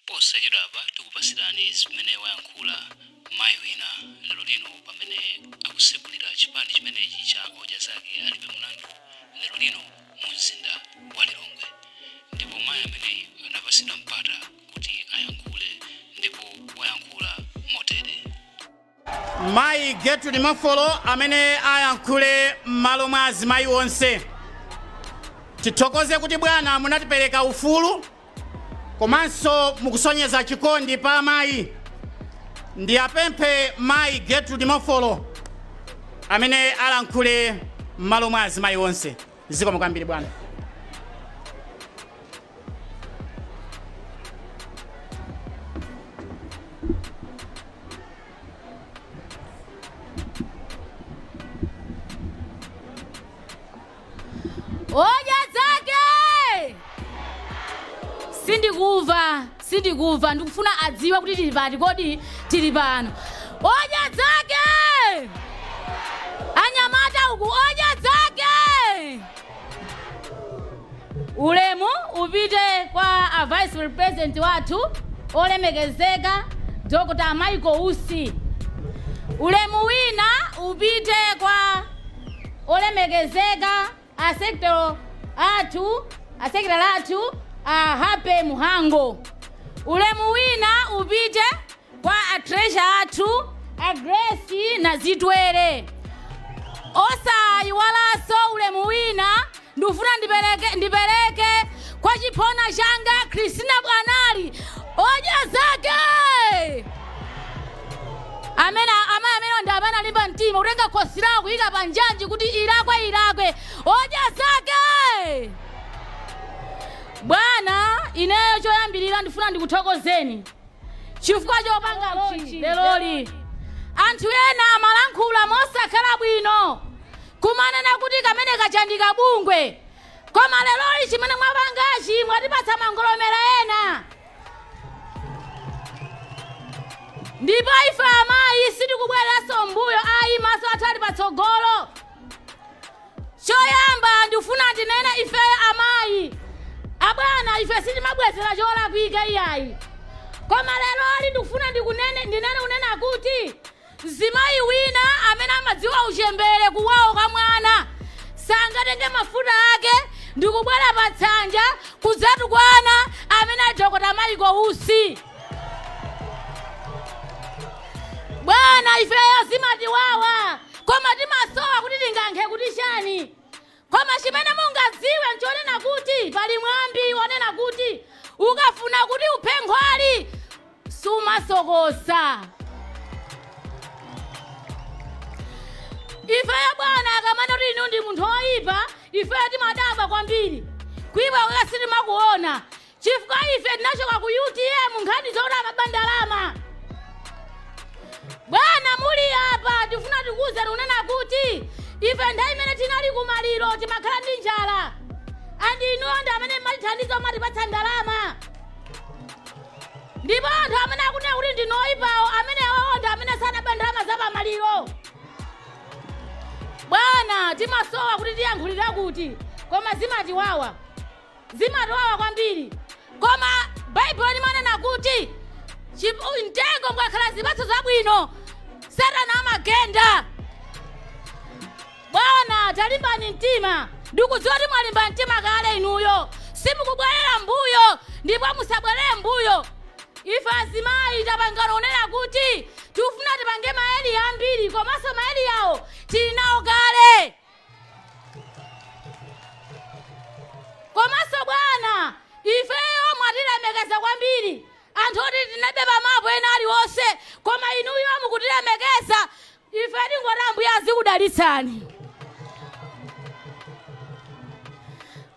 Posachedwapa tikupatsirani zimene wayankhula mayi wina lero lino pamene akutsegulira chipani chimenechi cha Odya Zake Alibe Mlandu lero lino mu mzinda wa Lilongwe ndipo mayi ameneyi anapatsidwa mpata kuti ayankhule ndipo wayankhula motere. Mayi Gertrude Mafolo amene alankhule m'malo mwa azimayi onse. Tithokoze kuti bwana munatipereka ufulu komanso mukusonyeza chikondi pa amayi. Ndiwapemphe mayi Gertrude Mafolo amene alankhule m'malo mwa azimayi onse. zikomo kwambiri bwana Odya Zake! Sindikumva. sindikumva ndikufuna adziwe kuti tili pati kodi tili pano odya zake anyamata uku odya zake ulemu upite kwa a vice president wathu olemekezeka dr michael usi ulemu wina upite kwa olemekezeka a secretary athu a happy muhango ulemu wina upite kwa a treasurer athu a grace nazitwere osayiwalanso ulemu wina ndifuna ndipereke kwa chiphona changa christina bwanali odya zake amene amayi amene ndi apa analimba mtima kutenga khosi lawo kuyika pa njanji kuti ilakwe ilakwe odya zake bwana ineyo choyambirira ndifuna ndikuthokozeni chifukwa chopanga launch leroli anthu ena amalankhula mosakhala bwino kumanena kuti kameneka ndi ka bungwe koma leroli chimene mwapangachi mwatipatsa mangolomera ena ndipo ife amayi sitikubwereranso m'mbuyo ayi maso athu ali patsogolo choyamba ndifuna ndinene ifeyo amayi abwana ife sitimabwezera cholakwika iyayi koma leroli ndikufuna ndikunene ndinene kunena kuti Mzimayi wina amene amadziwa uchembere kuwawa kwa mwana sangatenge mafuta ake ndikubwera pa tsanja kudzatukwana amene a dokotala Michael Usi. Bwana ifeyo zimatiwawa koma timasowa kuti tiyankhe kuti chani. Koma chimene mungadziwe n'chonena kuti pali mwambi wonena kuti, Ukafuna kuti uphe nkhwali, sumasokosa. Ifeyo bwana akamanena kuti inuyo ndi munthu woipa, ifeyo timadabwa kwambiri. Kuipa kwake sitimakuona. chifukwa ife tinachoka ku utm nkhani zoti amaba ndalama bwana muli apa tifuna tikuwuzeni kunena kuti ife nthawi imene tinali kumaliro timakhala ndi njala andi inuyo ndi amene mmatithandiza mmatipatsa ndalama ndipo anthu amene akunena kuti ndinu oyipawo amene awawo ndi amene anaba ndalama za pamaliro bwana timasowa kuti tiyankhulire kuti koma zimatiwawa zimatiwawa kwambiri. Koma Baibulo limanena kuti chi- u- mtengo mukakhala zipatso zabwino satana amagenda. Bwana talimbani mtima ndikudziwa kuti mwalimba mtima kale inuyo simukubwerera mbuyo ndipo musabwerere mbuyo ife azimayi tapangana kunena kuti tikufuna tipange marale ambiri komanso maralewo tili nawo kale komanso bwana ifeyo mwatilemekeza kwambiri anthu oti tinalibe mapo ena aliwonse koma inuyo mukutilemekeza ife tingoti ambuye azikudalitsani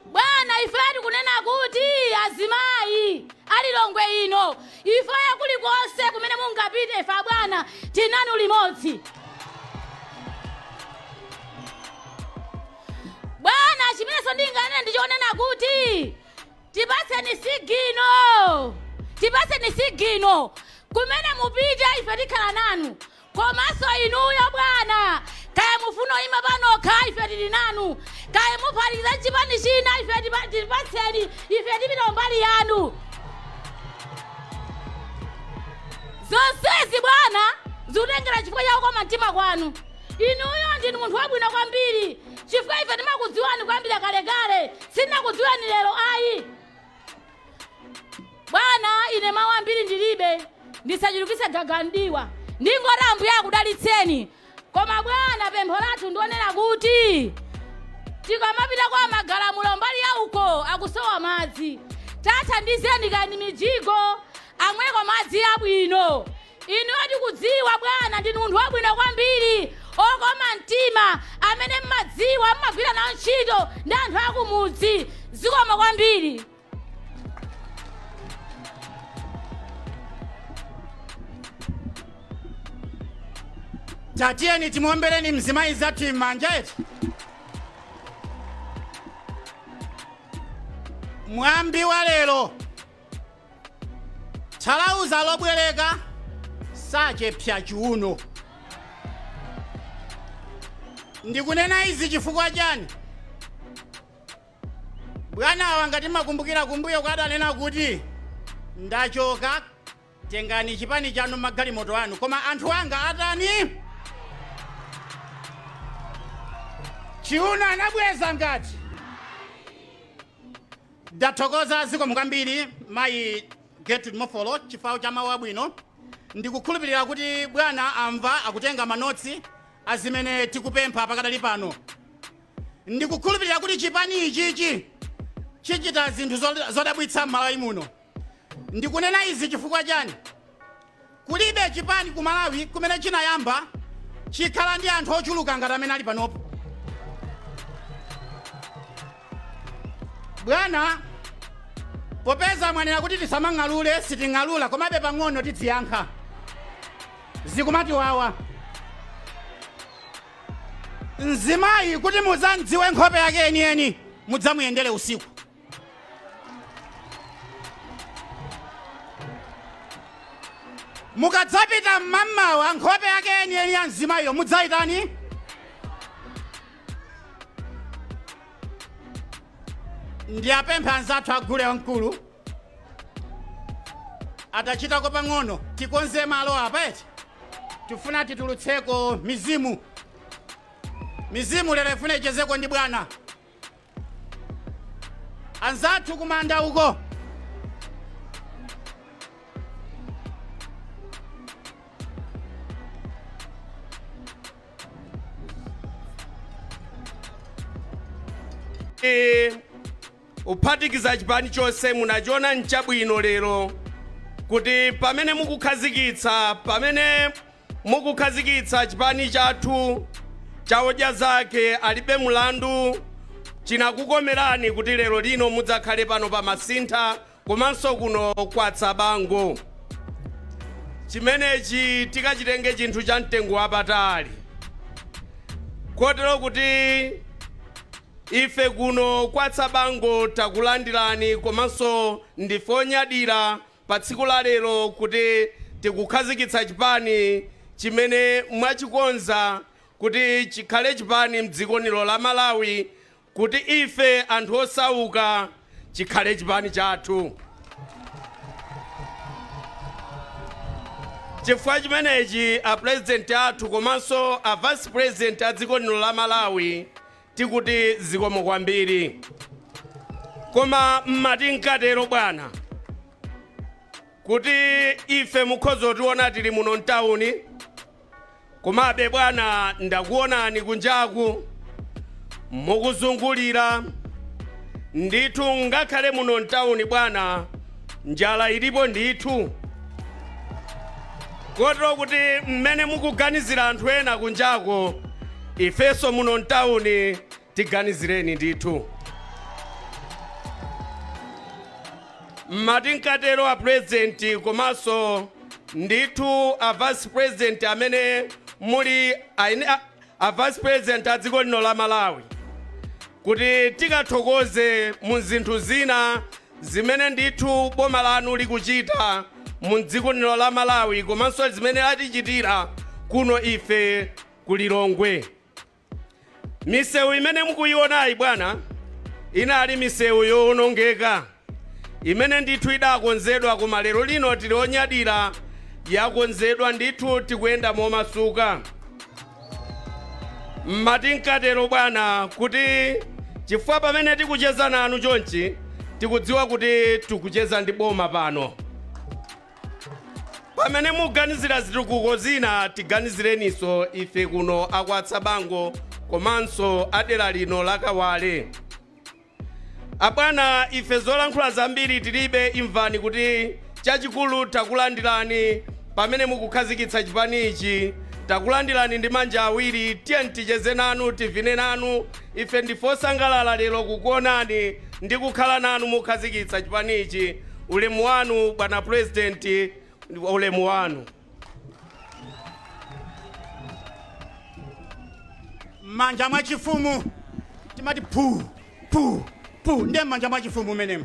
bwana ife tikunena kuti azimayi a Lilongwe ino Ifeyo kulikonse kumene mungapite ife bwana tili nanu limodzi. Bwana chimenenso ndinganene ndi chonena kuti tipatseni sigino. Tipatseni sigino. Kumene mupite ife tikhala nanu. Komanso inuyo bwana, kaya mufuna kuima panokha ife tili nanu, kaya muphatikiza nchipani china ife tipa, tipatseni ife tipita kumbali yanu. Zonsezi bwana zikutengera chifukwa cha kukoma mtima kwanu. Inuyo ndinu munthu wabwino kwambiri chifukwa ife timakudziwani kuyambira kalekale, sitinakudziweni lero ayi. bwana ine mawu ambiri ndilibe ndisachulukise gaga mdiwa ndingoti ambuye akudalitseni koma bwana pempho lathu ndi lonena kuti tikamapita kwa magalamulo mbali ya uko akusowa madzi tathandizeni kaya ndi mijigo amweko madzi abwino Inuyo tikudziwa bwana ndinu munthu wabwino kwambiri okoma mtima amene mmadziwa mmagwira nawo ntchito ndi anthu akumudzi zikomo kwambiri tatiyeni timuombereni mzimayi mnzathu m'manja eti mwambi wa lero thalauza lobwereka sachepsa chiuno ndikunena izi chifukwa chani bwanawa ngati mukukumbukira kumbuyo adanena kuti ndachoka tengani chipani chanu magalimoto anu koma anthu anga atani chiuno anabweza ngati Ndathokoza zikomo kwambiri mayi Gertrude Mofolo chifukwa cha mawu abwino. Ndikukhulupilira kuti bwana amva akutenga manotsi a zimene tikupempha pakadali pano. Ndikukhulupilira kuti chipani ichichi chichita zinthu zodabwitsa m'Malawi muno. Ndikunena izi chifukwa chani? Kulibe chipani ku Malawi kumene chinayamba chikhala ndi anthu ochuluka ngati amene ali panopo. Bwana, popeza mwanena kuti tisamang'alule, siting'alula komabe pang'ono tidziyankha. Zikumatiwawa. Mzimayi kuti mudzamdziwe nkhope yake yeniyeni mudzamuyendere usiku. mukadzapita mmamawa nkhope yake yeniyeni ya mzimayiyo mudzaitani ndiwapemphe anzathu a gule wamkulu atachitako pang'ono tikonze malo apa eti tifuna titulutseko mizimu mizimu lero ifuna ichezeko ndi bwana anzathu kumanda uko kuphatikiza chipani chonse munachiona nchabwino lero kuti pamene mukukhazikitsa pamene Mukukhazikitsa chipani chathu cha Odya Zake Alibe Mlandu chinakukomerani kuti lero lino mudzakhale pano pa Masintha komanso kuno kwa Tsabango. Chimenechi tikachitenge chinthu cha mtengo wapatali kotero kuti ife kuno kwa Tsabango takulandirani komanso ndife onyadira patsiku la lero kuti tikukhazikitsa chipani chimene mwachikonza kuti chikhale chipani mdziko lino la Malawi kuti ife anthu osauka chikhale chipani chathu chifukwa chimenechi a president athu komanso a vice president a dziko lino la Malawi Tikuti zikomo kwambiri. Koma mmati nkatero bwana kuti ife mukhoza kutiona tili muno mtauni komabe bwana ndakuonani kunjaku mukuzungulira ndithu ngakhale muno mtauni bwana Njala ilipo ndithu kotero kuti mmene mukuganizira anthu ena kunjako ifenso muno mtawuni tiganizireni ndithu mmati nkatero a purezidenti komanso ndithu a vice president amene muli aine- a- a vice president a dziko lino la malawi kuti tikathokoze mu zinthu zina Zimene ndithu boma lanu likuchita mu dziko lino la Malawi komanso zimene latichitira kuno ife ku Lilongwe. Misewu imene mukuyionayi bwana inali misewu yowonongeka imene ndithu idakonzedwa koma lero lino tili onyadira yakonzedwa ndithu tikuyenda momasuka. mmati nkatero bwana kuti chifukwa pamene tikucheza nanu chonchi tikudziwa kuti tikucheza ndi boma pano pamene muganizira zitukuko zina tiganizireninso ife kuno a Kwatsabango komanso a dera lino la Kawale Abwana ife zolankhula zambiri tilibe imvani kuti chachikulu takulandilani pamene mukukhazikitsa chipani ichi takulandilani ndi manja awiri tiyeni ticheze nanu tivine nanu ife ndife osangalala lero kukuonani ndi kukhala nanu mukhazikitsa chipani ichi ulemu wanu bwana president ulemu wanu. m'manja mwa chifumu timati phu phu phu ndiye m'manja mwa chifumu mmenemo